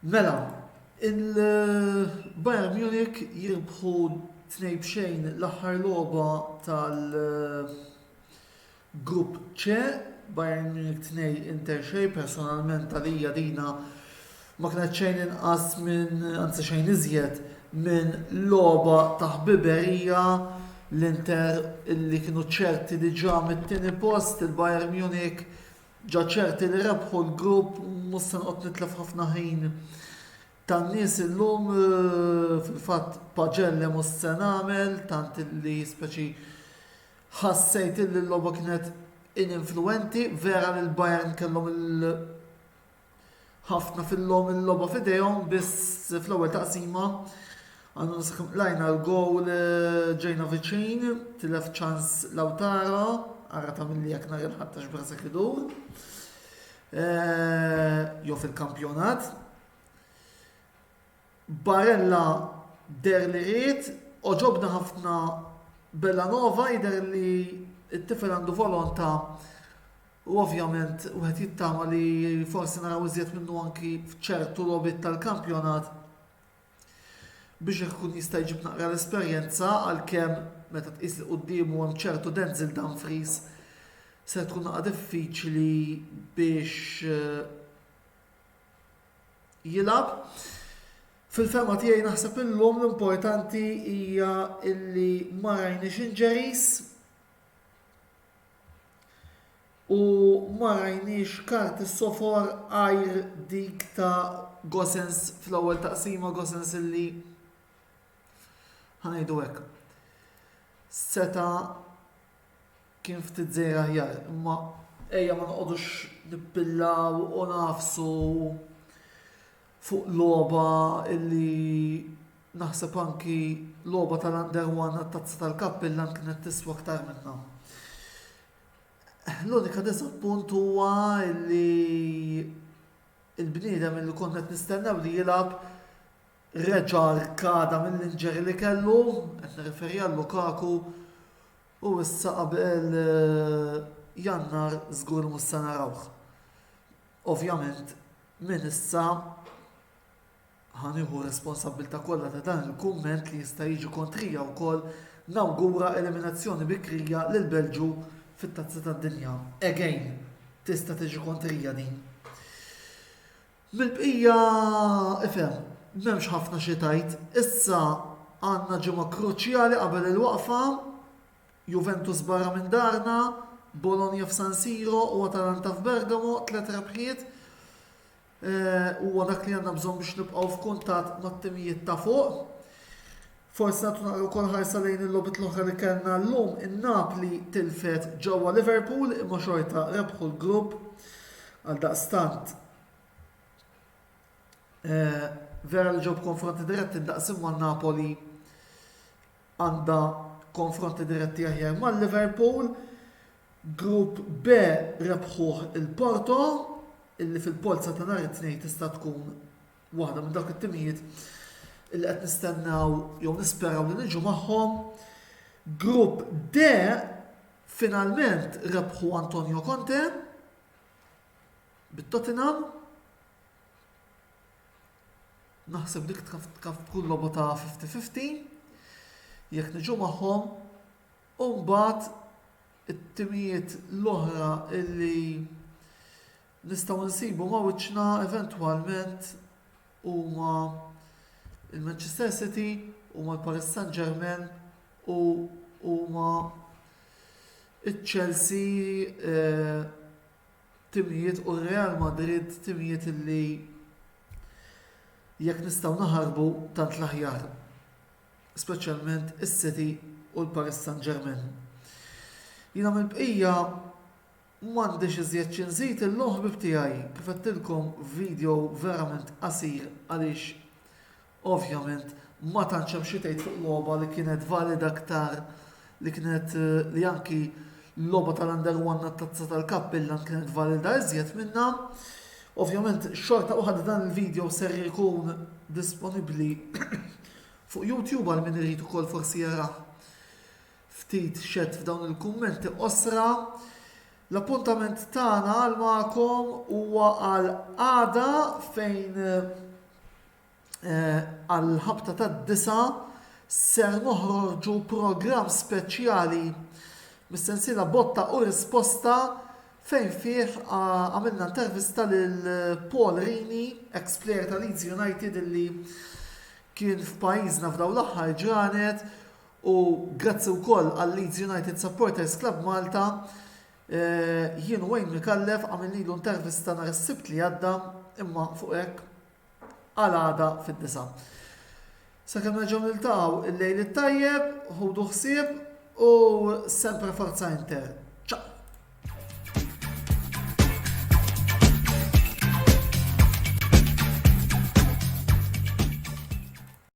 Mela, il-Bayern Munich jirbħu tnej bxejn l-aħħar logħba tal- Grupp C, Bayern Munich 2, Inter xejn, personalment għalija dina ma kienet xejn inqas minn, anzi xejn iżjed, minn logħba ta' ħbiberija, l-Inter illi kienu ċerti diġà mit-tieni post, il-Bayern Munich ġa ċerti li rebħu l-grupp, mhux se noqgħod nitlef ħafna ħin tan-nies illum, fil-fatt paġell hemm u s-se nagħmel, tant illi speċi Ħassejt illi l-logħba kienet ininfluwenti, vera li l-Bayern kellhom il ħafna fil-logħom il-logħba f'idejhom biss fl-ewwel taqsima għandu nisħam lajna l-gowl eh, ġejna viċin, tilef ċans Lautaro, għarra ta' mill-li jek nar il-ħattax brasa kidur. Eh, jo fil-kampjonat. Barella deher li ried, għoġobni ħafna Bellanova, jidher li t-tifel għandu volonta u ovvjament wieħed jittama li forsi naraw iżjed minnu anki f'ċertu logħbiet tal-kampjonat biex ikun jista' jġib naqra l-esperjenza għalkemm meta tqis li quddiemu hemm ċertu Denzel Dumfries se tkun naqra diffiċli biex eh, jilgħab. Fil-fehma tiegħi naħseb illum l-importanti hija illi ma rajniex injuries u ma rajniex karti sofor għajr dik ta' Gosens fl-ewwel taqsima, Gosens illi ħa ngħidu hekk seta' Kien ftit żejjed aħjar, imma ejja ma noqogħdux nippillaw u nagħfsu fuq logħba illi naħseb anki logħba tal-under one għat-tazza tal-kappillan kienet tiswa aktar minnha. L-unika disappunt huwa li il-bniedem li konna qed nistennew li jilgħab reġa' rkada mill-injury li kellu, qed nirreferi għal Lukaku, U issa qabel Jannar żgur mhux se narawh. Ovvjament minn issa ħa nieħu r-responsabbiltà kollha ta' dan il-kumment li jista' jiġi kontrija wkoll nawgura eliminazzjoni bikrija lill-Belġju fit-Tazza tad-Dinja. Again, tista' tiġi kontrija din. Mill-bqija ifhem, m'hemmx ħafna xi tgħid. Issa għandna ġimgħa kruċjali qabel il-waqfa, Juventus barra minn darna, Bologna f'San Siro u Atalanta f'Bergamo, tliet rebħiet. Huwa dak li għandna bżonn biex nibqgħu f'kuntatt mat-timijiet ta' fuq. Forsi nagħtu naqra wkoll ħarsa lejn il-logħbiet l-oħra li kellna llum. In-Napli tilfet ġewwa Liverpool imma xorta rebħu l-grupp. Għaldaqstant eh, vera li ġew konfronti diretti daqs imma Napoli għandha konfronti diretti aħjar mal Liverpool. Grupp B rebħuh il-Porto, illi fil-polza ta' nhar it-tnejn tista' tkun waħda minn dawk it-timijiet li qed nistennaw jew nisperaw li niġu magħhom. Grupp D finalment rebħu Antonio Conte bit-Tottenham. Naħseb dik kaf tkun lobu ta' 50-50. Jekk niġu magħhom u mbagħad it-timijiet l-oħra illi nistgħu nsibu ma' wiċċna eventwalment huma l-Manchester City, huma l-Paris Saint-Germain u huma iċ-Chelsea timijiet u r-Real Madrid timijiet li jekk nistgħu naħarbu tant l-aħjar, speċjalment is-City u l-Paris Saint-Germain. Jiena mill-bqija M'għandix iżjed xi nżid illum ħbieb tiegħi, kif għedtilkom video verament qasir għaliex ovvjament ma tantx hemm xi tgħid fuq logħba li kienet valida aktar li kienet li anki l-logħba tal-Under One għat-Tazza tal-Kapp Milan kienet valida iżjed minnha. Ovvjament xorta waħda dan il-video ser ikun disponibbli fuq YouTube għal min irid ukoll forsi jarah. ftit xedt f'dawn il-kummenti qosra, l-appuntament tagħna għal magħkom huwa għal għada fejn eh, għal ħabta tad-disa ser noħorġu programm speċjali mis-sensiela botta u risposta fejn fih għamilna intervista lil Paul Rini, ex-player ta' Leeds United li kien f'pajjiżna f'daw l-aħħar ġranet U grazzi wkoll għal Leeds United Supporters Club Malta, jien u Wayne Micallef għamilnilu intervista nhar is-Sibt li għadda imma fuq hekk għal għada fid-disgħa. Sakemm nerġgħu niltaqgħu il-lejl it-tajjeb, ħudu ħsieb u sempre forza inter.